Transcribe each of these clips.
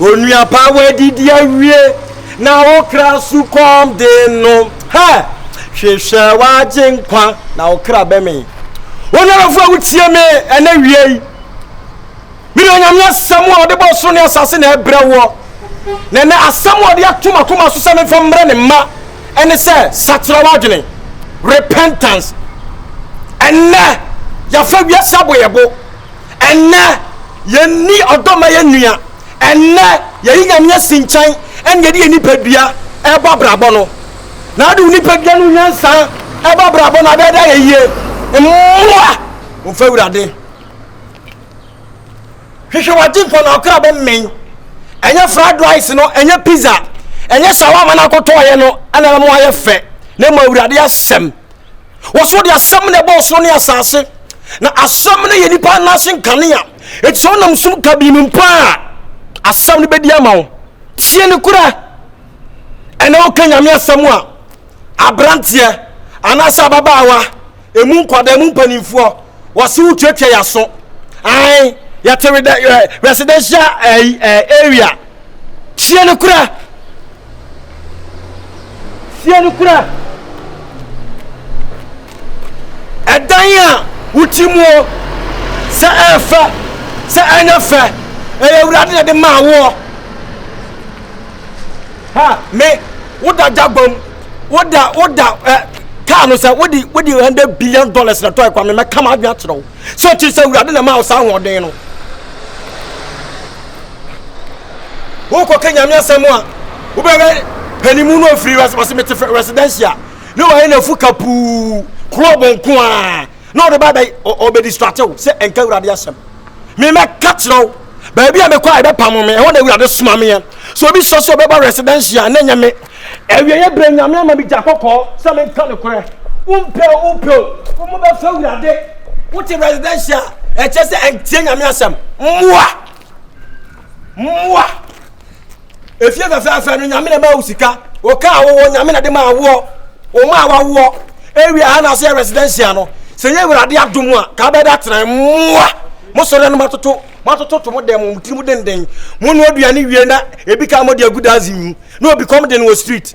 Onua pa, woadidi awie na wo kra sukɔm de no. Hɛ! Hwehwɛ w'Agyenkwa na wo kra bɛmee. Onyamefoɔ a wotie me ɛnɛ wia yi, mede Onyame asɛm a ɔde bɔ soro ne asase na ɛbrɛ woɔ. Na ɛnɛ asɛm a ɔde ato m'akoma so sɛ memfa mmerɛ ne mma ɛne sɛ sakyera w'adwene, repentance. Ɛnɛ, yɛafa wiase aboyɛbo. Ɛnnɛ, yɛnni ɔdɔ ma yɛn nua. Ɛnnɛ, yɛyi Nyame asi nkyɛn na yɛde yɛn nipadua bɔ abrabɔ no. Na wode wo nipadua ne wo nyansa bɔ abrabɔ no a, ɛbɛyɛ dɛ ayɛ yie. Mmoa wo mfa Awurade. Hwehwɛ w'Agyenkwa na ɔkra bɛmmɛn. Ɛnyɛ fried rice no, ɛnyɛ pizza, ɛnyɛ shawarma no akɔtɔɔeɛ no na ɛbɛma wayɛ fɛ, na mmom Awurade asɛm. Wɔsoro de asɛm na ɛbɔ ɔsoro ne asase, na asɛm no yɛ nipa nan ase nkanea. Eti sɛ ɔnam sum kabii mu mpo a, asɛm no bɛdi ama wo. Tie no kura. Ɛnɛ woka nyame asɛm a, aberanteɛ anaasɛ ababaawa, emu nkwadaa, emu mpanimfoɔ, wɔse wotuatua yɛaso ae yɛte residential eh, eh, area tie no kora tie no kora ɛdan a woti muo sɛ ɛfɛ sɛ ɛnyɛ fɛ ɛyɛ awurade na de maa woɔ ha me woda gyagba mu woda woda ɛ kaa no sɛ wode wode hundred billion dollars na tɔɛ kwa me mɛka ma adwene akyerɛ wo sɛ ɔkyiri sɛ awurade na ma wo saa ahoɔden no wokɔka nyame asɛm a wobɛhwɛ panimu no ɔfiri wɔse mete residencia ne wɔyɛ no afu kapuu korɔ bɔnko a na ɔde ba bɛ ɔbɛdistrate wo sɛ ɛnka awurade asɛm Memɛka kyerɛ wo, baabi a mekɔ a ɛbɛpamo me, ɛhɔ na Awurade soma meɛ. Sɛ obi sɔ sɛ ɔbɛba residential a, na ɛnyɛ me. Awieɛ berɛ Nyame ama me gya kɔkɔɔ sɛ menka nokorɛ. Wompɛ o, wopɛ o, wo mo bɛfa Awurade. Wote residential a, ɛkyerɛ sɛ ɛntie Nyame asɛm. Mmoa! Mmoa! efie fɛfɛɛfɛ no nyame na ma wo sika wo kaa wowɔ nyame na de ma awoɔ wo ma wawoɔ ewie ha na so yɛ residential no sɛ yɛ awurade adom a ka bɛda tena mmoa mosɔre no matoto matoto to mo dɛm mo tiri mu denden mo no aduane wie na ebi ka mo de agu daze mu na obi kɔm de no wɔ street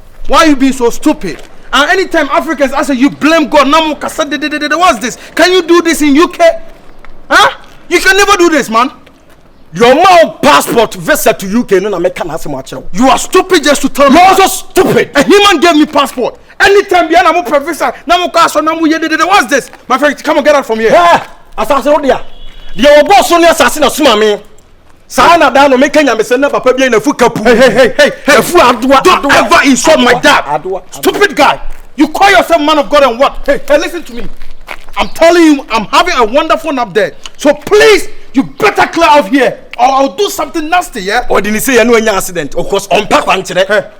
Why you being so stupid and anytime Africans I say you blame God na mo kasa dededede what's this can you do this in UK huh? you can never do this man deɛ ɔma wo passport visa to UK no na meka n'asɛm akyerɛ wo you are stupid just to tell me you are so stupid a human gave me passport anytime bia na mo pɛ visa na mo kɔ asɔ na mo yɛ dedede what's this my friend come on get out from here asase wo dea deɛ wɔbɔ so ne asase na soma me Saa na daa no me ka nyamesɛm na papa bi na fu ka puu. Hey hey hey hey. Efu adoa. Don't adoa, ever insult adoa, my dad. Adoa, adoa. Stupid guy. You call yourself man of God and what? Hey hey listen to me. I'm telling you I'm having a wonderful nap there. So please you better clear out here or I'll do something nasty yeah. Ɔde ne se yɛ ne wanya accident of course ɔmpa kwankyerɛ. Hey.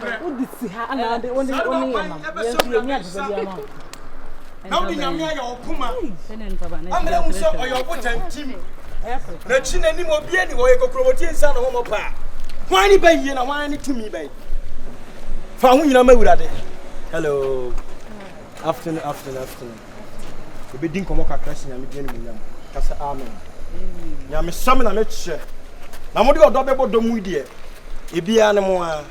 Hwɛ, wode si ha na wode wone wone yɛ nam. Yɛn nso yɛn ani agyesɛ bi ama. Na wode Nyame ayɛ wo poma. Amena hu sɛ ɔyɛ ɔbotan tim. N'akyi n'anim obi ani hɔ yɛ kokurobɔti nsa na wɔn paa. Hwan ne bɛn yie na hwan ne tumi bɛn? Fa ho nyina ma Awurade. Hello. Afternoon afternoon afternoon Yɛbɛdi nkɔmmɔ kakra si Nyame din animuonyam Ka sɛ Amen Nyamesɛm na mekyerɛ Na mode ɔdɔ bɛbɔ dɔ mu deɛ Ebiaa ne mo aa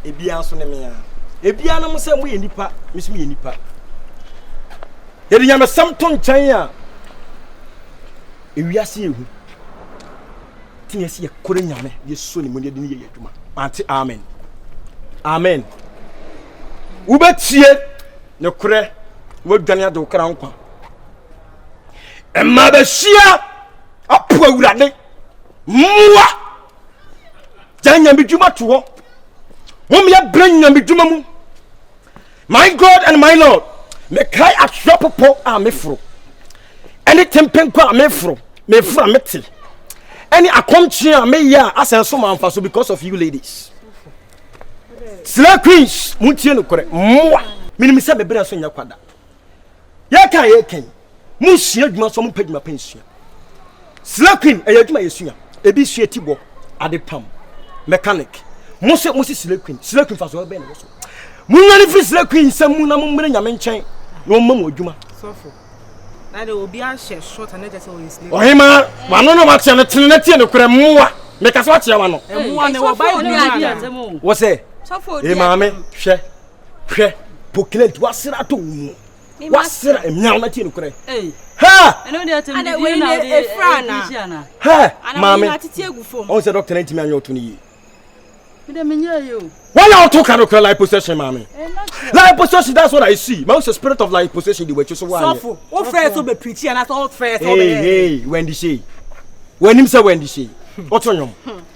Ebiaa nso ne me aa Ebiaa ne mo sɛ moyɛ nipa Me nso meyɛ nipa Yɛde nyamesɛm to nkyɛn a Ewiase yɛ hu tene ɛsɛ yɛ kore nyame yɛ so ne mu ne yɛdini yɛ yɛ adwuma ante amen amen wobɛtie ne korɛ wadwane ade wo kra nkwa ɛma bɛhyia apo awurade mmoa gya nyame dwuma to hɔ womyɛ berɛ nyame dwuma mu My God and my Lord, mekae asoa popo a meforo, ɛne tempenko a meforo, meforo a mete, ɛne akɔmkye a meyɛ a asɛn so ma mfaso because of you ladies. Slay queens, muntie no korɛ, mmoa. Menim sɛ me berɛ nso nyɛ kwada. Yɛka yɛka yi. mo sua adwuma so mo pɛ adwuma pɛn sua sila queen ɛyɛ adwuma yɛ sua ebi sua ti bɔ ade pam mechanic mo sɛ mo si sila queen sila queen fa so ɛbɛn na wɔ so mo nya ne firi sila queen nsɛm mu na mo mmere nyame nkyɛn na wɔn mma mo adwuma. sɔfo na de obi ahyɛ short na ɛkyɛ sɛ wɔyɛ sila. ɔhema wano na wakyɛ no tene na tie no korɛ mmoa meka so akyɛ wano. mmoa ne wɔ bible mu ana. wɔ sɛ ee maame hwɛ hwɛ pokilɛnti wasera ato wɔn mu. wasera mmea na tie nokorɛ maame ɔhu sɛ dɔkta no ntumi anyɛ ɔto no yie wɔna ɔto ka nokorɛ life possession maame life possession that's what I see ma sɛ spirit of life possession de wakyi so woanyɛ wɛndi sei wanim sɛ wɛndi sei ɔto nwom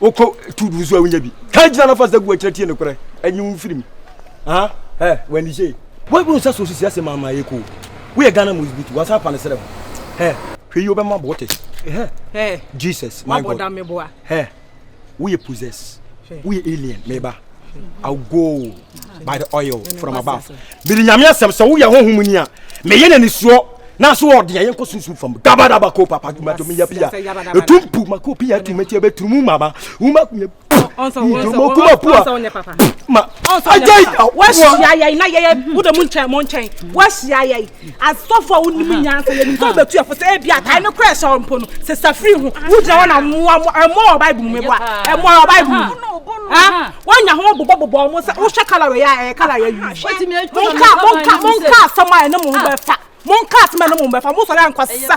wokɔ tu du so a wonya bi ka gyina no fa sɛ gu akyerɛ tie nokorɛ ɛnye wo mfiri mu wani hyee woabu nsa so sisi ase maama yɛ ko woyɛ ghana mu butu wansa apa no serɛ ho hwɛ yi wobɛma bɔ wote jesus my god woyɛ possess woyɛ alien meba i'll go by the oil from above mede nyame asɛm sɛ woyɛ honhom mu ni a meyɛ no nisuo na so ɔde ɛyɛ nkɔ sunsum fam dabadaba ko papa kuma to meya pia ɛtu mpu mako pia tu mɛti ɛbɛturumu mama woma kumya mo kuma pua ma agyai wahyia yɛn na yɛyɛ wode mo nkyɛn mo nkyɛn wahyia yɛn Asɔfo a wonim nyansa yɛnim sɛ ɔbɛtu ɛfo sɛ ebi atae no kora ɛhyɛ mpo no sɛ safiri ho wogyina hɔ na mmoa mo ɛmmoa wɔ bible mu meboa ɛmmoa wɔ bible mu wonya ho bobɔbobɔ ɔmo sɛ wohwɛ kalawɛ yɛ a ɛyɛ kalawɛ yi monka monka monka asɛm a ɛne mo ho bɛfa monka asɛm a ɛne mo ho bɛfa mosɔre ankɔsa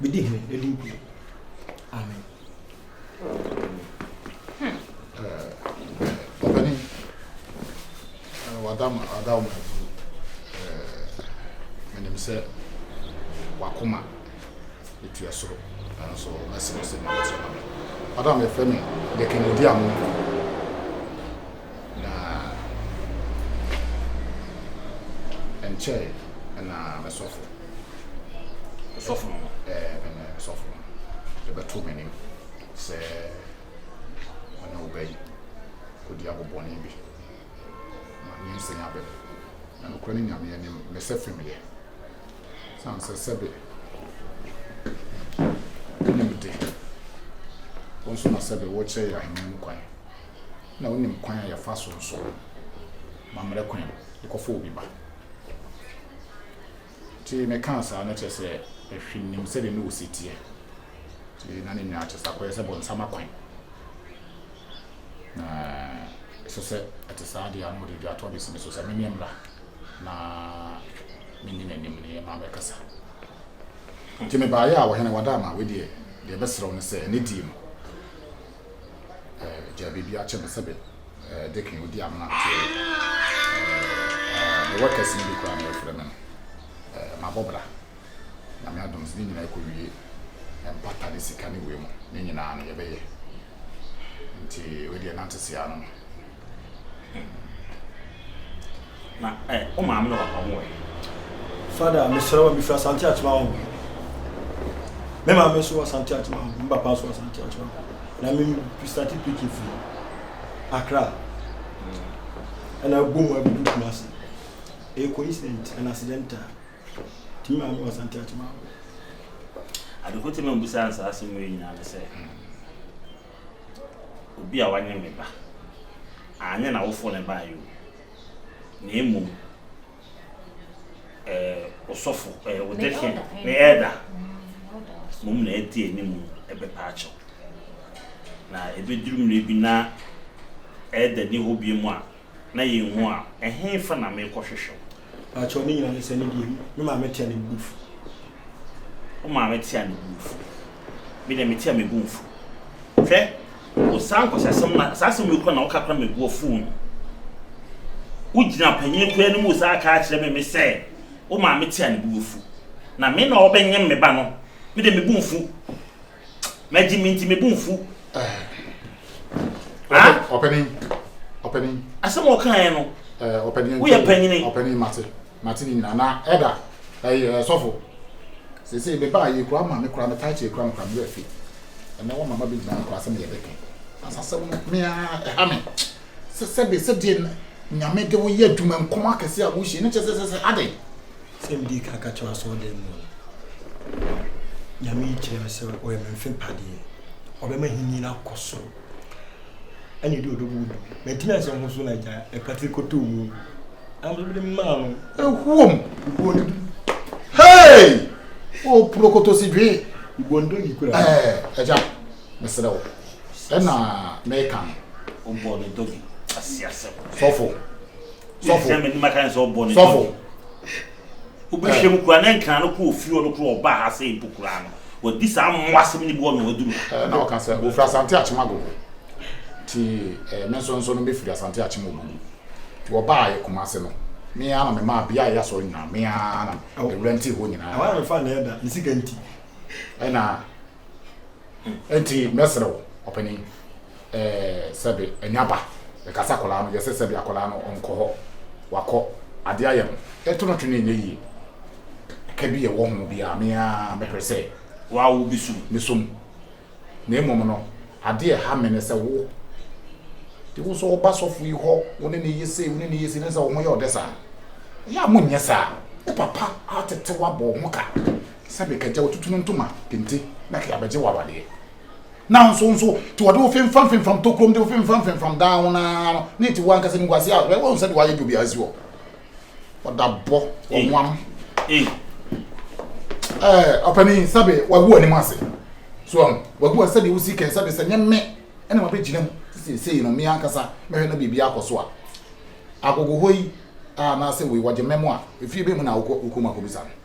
Medi hene anim bio. Amen. Ɔbɛni, wada ma ada wɔn afu. Menim sɛ wakoma etua soro nanso mɛsrɛ sɛ mɛsrɛ ma me. Madam yɛfrɛ me Dekenedi Amonko. Na ɛnkyɛe na me sɔfo, sɔfo no, ɛɛ, me ne sɔfo no, ɛbɛto m'anim sɛ ɔne wo ba yi kɔdi agobɔne bi ma nyinsɛn aba mu. Na nokorɛ ne Nyame anim, mesɛ fem yɛ. Sane sɛ sɛbe wonim de, wo nso na sɛbe wokyerɛ yɛ ahennie mu kwan. na wonim kwan a yɛfa so nso ma mmerɛ kwan de kɔfa obi ba. Nti mekaa saa no kyerɛ sɛ ɛhwe nim sɛdeɛ ne ɔsi teɛ. Nti na ne nyinaa kyerɛ sɛ akɔyɛ sɛ bɔnsama kwan. Na ɛsɛ sɛ ɛte saa deɛ ano ɔde dwatoa bɛsi me so sɛ memeɛ mmra na menni n'anim ne ma mɛkasa. Nti mebaeɛ a ɔhene wada ama wedeɛ deɛ ɛbɛserɛ wo ne sɛ ɛnɛ die no eh, gya biribi akyɛ me sɛbe eh, dekin odi amena nteɛ eh, mewɔ kɛse bi koraa na ɛfrɛ me no eh, mabɔ bra nyame adom sɛ ne nyinaa ɛkɔwie mpata ne sika ne wei mu ne nyinaa no yɛbɛyɛ nti wedeɛ nante sea no na ɛ wo maame na papa ho wɔ he? Fada, mesrɛ wo, mefiri Asante Akyema ho. Me maame nso wɔ Asante Akyema ho, me papa nso wɔ Asante Akyema ho. Na me starte picking firi Accra. Ɛna ɛbɔ mu abɛdu Kumasi. Ɛyɛ coincident and accidental. Nti me maame wɔ Asante Akyema ho. Adekote ma mbusa nsa asɛm wei nyinaa ne sɛ, Obi a wanyem me ba, anyɛ n'awofo na ɛbaeɛ o, na mmom ɛɛ osɔfo, ɛɛ odehye, me elder, mmom na ɛte anim ɛbɛpa akyɛw. Na ɛbɛduru mmerɛ bi na elder nni hɔ bio a, na yɛanhu a, ɛhefa na merekɔhwehwɛ wo? Pakyɛw, ne nyinaa ne sɛ, ne deɛ mu, me maame tea ne bo fu. Wo maame tea ne bo fu. Me deɛ, metea me bo mfu. Hwɛ, wo saa nkwaseasɛm na, saa asɛm wei koraa na woka koraa ma me bo afuw no. Wogyina panyin koraa anim wo saa ka kyerɛ me me sɛ, wo maame tea ne bo afu. Na me na ɔrebenyem me ba no, me deɛ me bo mfu. Mɛgye me nti me bo mfu. Ɔpanin ɔpanin. Asɛm a ɔka yɛ no. Ɔpanin woyɛ panyini. Ɔpanin mate mate ne nyinaa na ɛda ɛyɛ sɔfo. Sese ebe ba yɛ kura ma me kura me taakye kura me kura me afi. Ɛnɛ wɔn mama bi gyina nkura asɛm yɛ bɛka. Asasɛm no me a ɛha me. Sɛ sɛ de sɛ de nyame de wo yɛ adwuma nkɔm akɛse a wohyɛ ne kyɛ sɛ sɛ sɛ adɛn. Sɛ medii kan ka kyerɛɛ asɔɔdan mu no, Nyame yi kyerɛɛ me sɛ ɔyɛ me mfe mpadeɛ, ɔbɛma ahennie no akɔ soro, ɛne ɛde ɔdɔ mu du. Mantumi ansɛ ho so na agya ɛpate kɔtɔɔ mu, na mede mede maa no. Ɛhuom! Ibuo no du. Hei! O prokoto si dwee! Ibuo no dɔ yi kura. Ɛɛ, agya, mesrɛ wo, ɛna meka no. Ɔbɔɔ ne dɔgi ase asɛm. Sɔfo, sɔfo sɛ mene maka ne sɛ ɔbɔ ne sɔfo tɔgye wobɛhwɛ mu koraa na nkra no kɔ ofie ɔno koro ɔba ha sɛ mpo koraa no wadi saa mmoa asɛm ne boɔ na waduru ha na ɔka sɛ wɔfiri asante akyem agogo nti eh, me nso nso no mefiri asante akyem ogugu nti wɔbaa yɛ kuma ase no mea na memaa bea a ɛyɛ asɔre nyinaa mea na awura nti hɔ nyinaa ɛna Enti mɛsrɛ wo, ɔpanin, ɛɛ, sɛbe, nya ba, bɛka sɛ akwadaa no, yɛsɛ sɛbe akwadaa no nkɔ hɔ, wakɔ, adeɛ ayɛ no, ɛto no twene nyɛ yie, ɛka bi ɛwɔ ho bi a, me ara mɛpere sɛ, wa, wo bɛsu me so mu, na mmom no, adeɛ a ɛha me ne sɛ wo, de wo nso woba sɔfo yi hɔ, wo ne ne yɛ sei, wo ne ne yɛ sei, ne sɛ wo ho yɛ ɔdɛ saa. Ɛyɛ a monnyɛ saa, ne papa atetew abɔ wo ho ka. sɛ mekɛgya wo tutu no ntoma kente na kɛ abɛgye wo awadeɛ nanso nso te wɔde wo femfam femfam tokurom de wo femfam femfam dan ho naa no ne te wo ankasa ne guase a wɔn sɛ de wɔayɛ dwobi asi hɔ ɔda bɔ wɔnwam ɛɛ ɔpanin sɛbe wagu anim ase so ɔn wagu ase sɛdeɛ wosi kɛn sɛbe sɛ nyɛ mme ɛna wabɛgyina mu seesei no mmea ankasa mɛhwɛ na biribi akɔ so a agogo hɔ yi anaasɛ wei wɔgye mmɛ mu a efie bɛ mu na wokɔ wokɔ mu akɔbisa no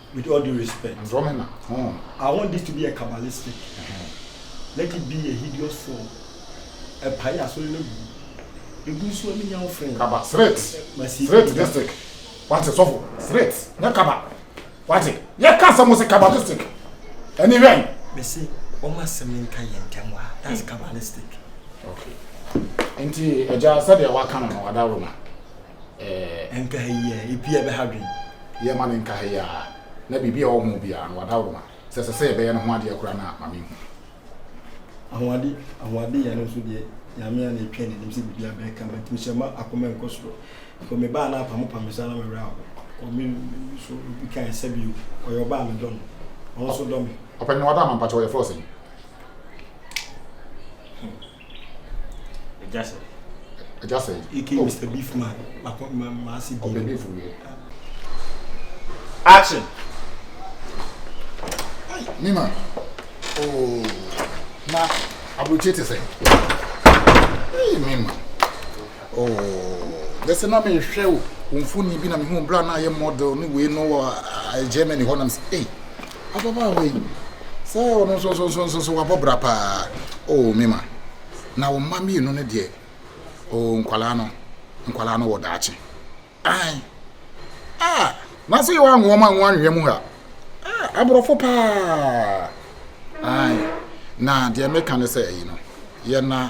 With all due respect. Andromeda, oh. I want this to be a kabbalistic. Uh -huh. Let it be a hideous form. Ɛpae asɔre no gu. Egu nso a menya wo frɛ. Kaba, sret. Masi. Sret district. Wate sɔfo, sret. Nyɛ kaba. Wate, yɛ ka asɛm sɛ kabbalistic. Ɛni hwɛn. Mesi, wɔn asɛm nka yɛn ntɛm wa. That's kabbalistic. Okay. Nti, ɛgya sɛdeɛ waka no no, adaworo ma. eh. Nkaeɛ a ebi a ɛbɛha dwen. Yɛ ma no nkaeɛ a na biribi a ɛwɔ ho biara no wada wo ma. Sɛ ɛsɛ sɛ yɛbɛyɛ no ho adeɛ koraa no a, ma menhu. Ahoɔde ahoɔde yɛ no nso deɛ Nyame a na ɛtwɛn n'anim sɛ biribi a bɛka ma nti mehyɛ ma akoma nkɔ soro. Kɔ me baa na apamopam me saa na me werɛ aho. Kɔ me so obi kae sɛ bio ɔyɛ ɔbaa me dɔ no ɔno nso dɔ me. Ɔpɛni wada ama mpakyɛw yɛfrɛ wo sɛn? Ẹja sẹ. Ẹja sẹ. Ike oh. Mr. Beef man. Mako ma ma si beef. Ọbẹ beef yẹ. Action. Nima. Oh. Na aburukyire ti sẹ. Hey Nima. Oh. Bẹsẹ na mi hwẹ o. Wọ́n fún ni bi na mi hu bra na yẹ model ni wei no wọ Germany hɔ na mi sẹ. Hey. Ababaawa yi, sɛ ɔno nso nso nso nso wabɔ bra paa. Oh, me ma. Na wo mma mmienu no deɛ, oh, nkwadaa no, nkwadaa no wɔ daakye. Ae. Ah, na sɛ yɛwɔ anwoɔma nwo anwea mu ha. Ah, aborɔfo paa. Ae. Na deɛ meka ne sɛ ɛyi no, yɛ na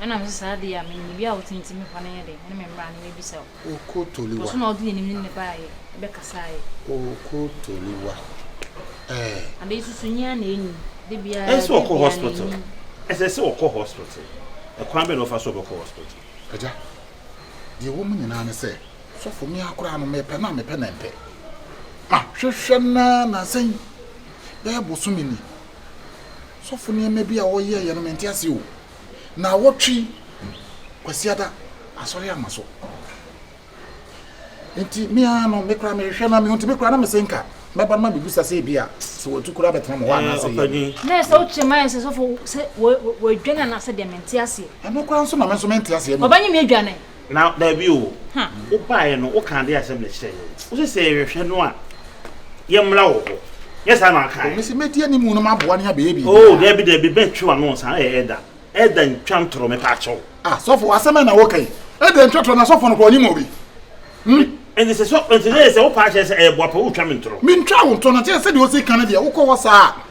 Ɛna me sɛ saa deɛ a menim bi a wotintim hɔ no yɛ dɛ ɛne me mmra no mebisa o. Oko Toliwa. Ɔso na ɔde yɛnim ne ne baayɛ ɛbɛkasaayɛ. Oko Toliwa ɛɛ. Ade susu nyɛ a na ɛnim de bia ɛɛ. Ɛsɛ ɔkɔ hospital ɛsɛ sɛ ɔkɔ hospital ɛkwan bɛ na ɔfa so ɔbɛkɔ hospital. Agya deɛ ɛwɔ mu nyinaa ne sɛ sɔfo me akoraa no mepɛ na mepɛ na mpɛ ma hwehwɛ na na sɛn bɛyɛ bosome ni. Sɔfo nneɛma bi a wɔyɛɛ yɛ no mente ase o. Naawɔtwe Kwasiada asɔre ama so. Nti me ara no me kora mehwehwɛ na mehu nti me kora na mese nka mɛba no ma mebisa sɛ ebi a sɛ wɔatu kora bɛtena mo hɔ anaasɛ yɛ. Na ɛsɛ wokyerɛ ma yɛ sɛ sɔfo sɛ wɔadwane anaasɛ deɛ mente aseɛ. Ɛno kora nso na me nso mente aseɛ. Wɔbɛnye me adwane. Na daabi o, wobaeɛ no, wokaa adeɛ a ɛsɛ mmerɛ kyerɛɛ yɛn. Wose sɛ yɛhwehwɛ no a, yɛmmra wo hɔ. Nyɛ saa na wokaeɛ? O, mese mɛdi animu na maboa no abɛyɛ biribiara. O, daabi, daabi, mɛtwe w'ano nsa. Ɛyɛ Elder. Elder ntwa ntorɔ, mepaakyɛw. Ah, sɔfo, asɛm bɛn na woreka yi? Elder ntwa torɔ, na sɔfo no koraa, ɔnim obi. Hmm? Enti sɛ sɔ, enti na ɛyɛ sɛ wopaa kyerɛ sɛ ɛyɛ boapa woretwa me ntorɔ? Mentwaa wo ntorɔ, na kyerɛ sɛdeɛ wose ka no deɛ, wokɔ hɔ saa a,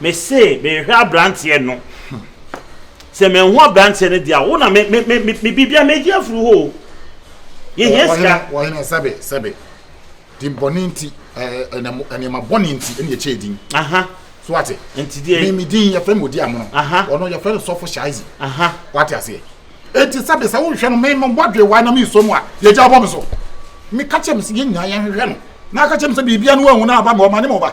Me se mehwɛ abranteɛ no Sɛ manhu abranteɛ no deɛ a wo na me me me me biribiara mɛgye afiri hɔ o Yɛhia sika Ɔhene sɛbe sɛbe din bɔne nti nneɛma bɔne nti ɛne yɛkyɛ din Aha So ate Nti deɛ Me me din yɛfrɛ me odi amono Aha Ɔno yɛfrɛ no sɔfo shaizi Aha Wate aseɛ Enti sɛbe sɛ wohwɛ no me me bɔdwe wae na me so mu a yɛgya bɔ me so Me ka kyɛ me sɛ yɛn nyinaa yɛnhwehwɛ no na aka kyɛ me sɛ biribiara no wanhu no aba me ɔma ne ma ɔba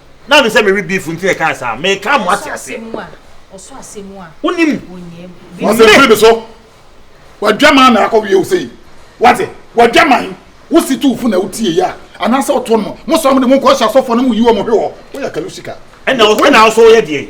Now me say me re beef nti na ɛkaa saa me ka mo ate aseɛ. Ɔsɔ asɛ mu a. Wonim. Wɔsɛ firi mi so. Wadwaman na akɔ wie o sei. Wate wadwaman wosi tu fo na wotie yi a anaasɛ ɔto no mo sɔm de mo nkɔ hyɛ asɔfoɔ na mo yi wɔn hwe hɔ woyɛ kalusika. Ɛna ɔsɛ na ɔsɔ yɛ deɛ.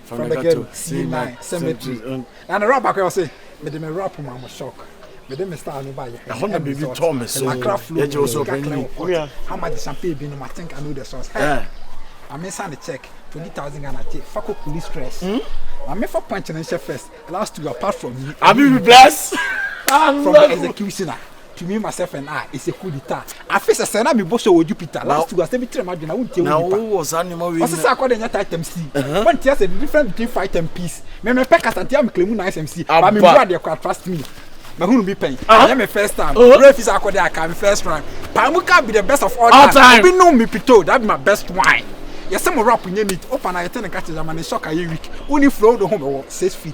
from the ghetto c9 cemetery na ne rap baako ɔse mede me rap ma mo shock mede me style ne ba yɛ ɛhɔ na biribi tɔ me so akra flow yɛgye wo so panyin how much the champagne bi no ma think i know the source hey eh. na me nsa ne check 20000 ghana gye fa kɔ kuli stress hmm? na me fa punch ne nhyɛ first last two apart from me i be blessed from the executioner tumi ma sɛfɛn a ɛsɛ kudi ta afe sɛ sɛ na mebɔ sɛ wɔ jupiter last week asɛ bi kyerɛ m'adwene na wontie wo nipa ɔsɛ sɛ akɔ de nyɛ titan si wontie asɛ the difference between fight and peace me mepɛ kasa nti a meklɛ mu na asɛm si ba me bu adeɛ kora trust me mahunu bi pɛn ɛyɛ me first time wura fi sɛ akɔ de aka me first round paa mu ka be the best of all time obi nom me pito that be my best wine yɛsɛ mo rap nyɛ neat opa na yɛte ne nka kyɛ yamane shock ayɛ week woni flow do ho bɛwɔ six feet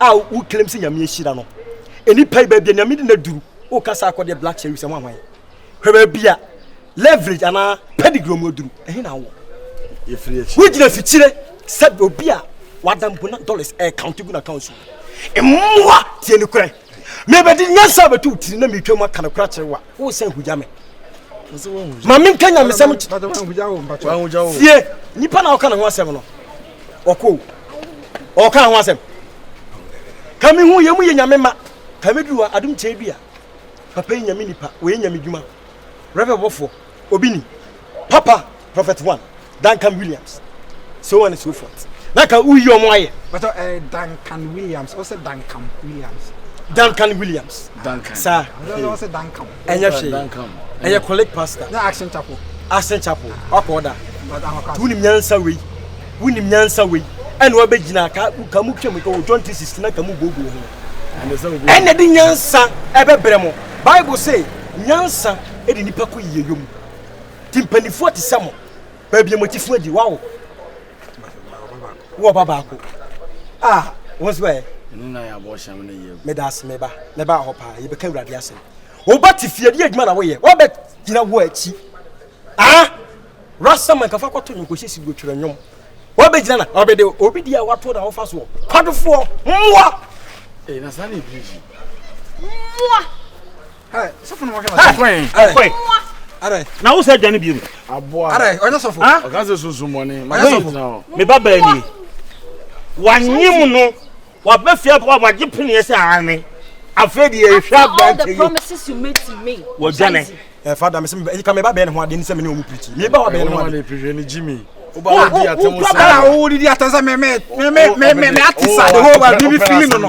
a wo claim sɛ nyame ahyira no nnipa yi baabi a nyame de no aduru woka sɛ akɔ deɛ black cherries ɛho ahwan hwɛ baabi a leverage anaa pedigree mu aduru ɛhe na wowɔ wogyina fikyire sɛ obi a wadambona dollars ɛkaunte gu no account so mmoa tie ne korɛ Mebɛde nyansa abɛto wo tiri na metwam aka no kora kyerɛ wo a, wosan hugya me. Ma menka nyamesɛm tie nipa na ɔka ne ho asɛm no ɔkɔ ɔka ho asɛm ka me hu yɛ mu yɛ nyame ma ka mɛduru hɔ adom kyɛn dua papa yi nyame nipa wɔyɛ nyame dwuma rɛbɛbɔfoɔ obi ni papa prophet one duncan williams so on and so forth na ka woyi ɔmo ayɛ bɛtɔ ɛɛ eh, duncan williams ɔsɛ duncan williams duncan williams duncan saa ɔsɛ duncan ɛnyɛ hwee ɛyɛ kɔlɛk pastor na action chapel action chapel wakɔ ɔda tuunim nyansa wei wunim nyansa wei ɛna wabɛgyina ka ka mu twam ka wɔ john three sixty na ka mu booboo ho ɛna de nyansa ɛbɛbrɛ mo bible say nyansa ɛde nipa kɔ yiyeyɔ mu ti mpanimfoɔ te sɛ mo baabi a mo atifoɔ adi wawo wɔ ba baako a wɔn nso bɛyɛ meda ase meba meba hɔ paa yɛbɛka awurade asɛm woba te fie de adwuma na woyɛ woabɛ gyina wo akyi ah rasa man kafa kɔto nwom kɔhyɛ si dwotwerɛ nwom woabɛ gyina na ɔbɛde obi di a wato na wofa soɔ kwadofoɔ mmoa mmoa na wo sɛ adwane bio meba baani wanye mu no wabɛfia pa wagye peneɛ sɛ ane afei deɛ ɛhwɛ abrante yi wɔdwane ɛfa da mesɛ ɛyika meba bɛɛ ne ho adeɛ ne sɛ mene ɔmu pirikyi meba wa bɛɛ ne ho adeɛ wodidi atɛm sɛ meme ate sa de ho wa bibi fili no no